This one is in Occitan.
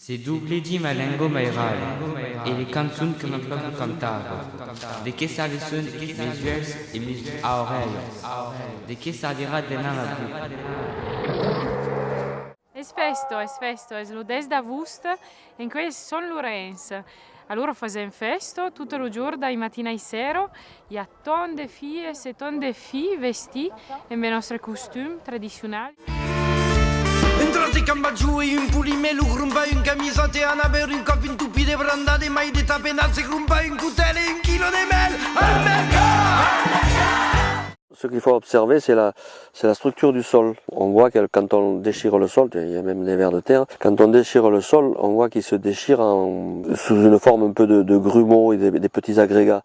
Se doblegim a lengo mairale e le cançon que mon pape cantava, de que s'aveson mes uèlhs e mes aurelhas? De que s'avirà deman ma boca? Es festo, es festo, es lo 10 d'agost en quai es Son Lorenç. Alora fasèm festo, tot lo jorn dai matin ai sèro, i a Ton de filles e ton de filhs vestits en be nòstre costum tradicional. Un tros de cambachou e un polimè lo grompa un camisòt e ana bèur un còp un topí de branda de mai de tapenat se grompa un cotèl e un quilò de mèl al mercat. Ce qu'il faut observer c'est la c'est la structure du sol. On voit que quand on déchire le sol, il y a même des vers de terre, quand on déchire le sol on voit qu'il se déchire en sous une forme un peu de de grumeaux et des petits agrégats.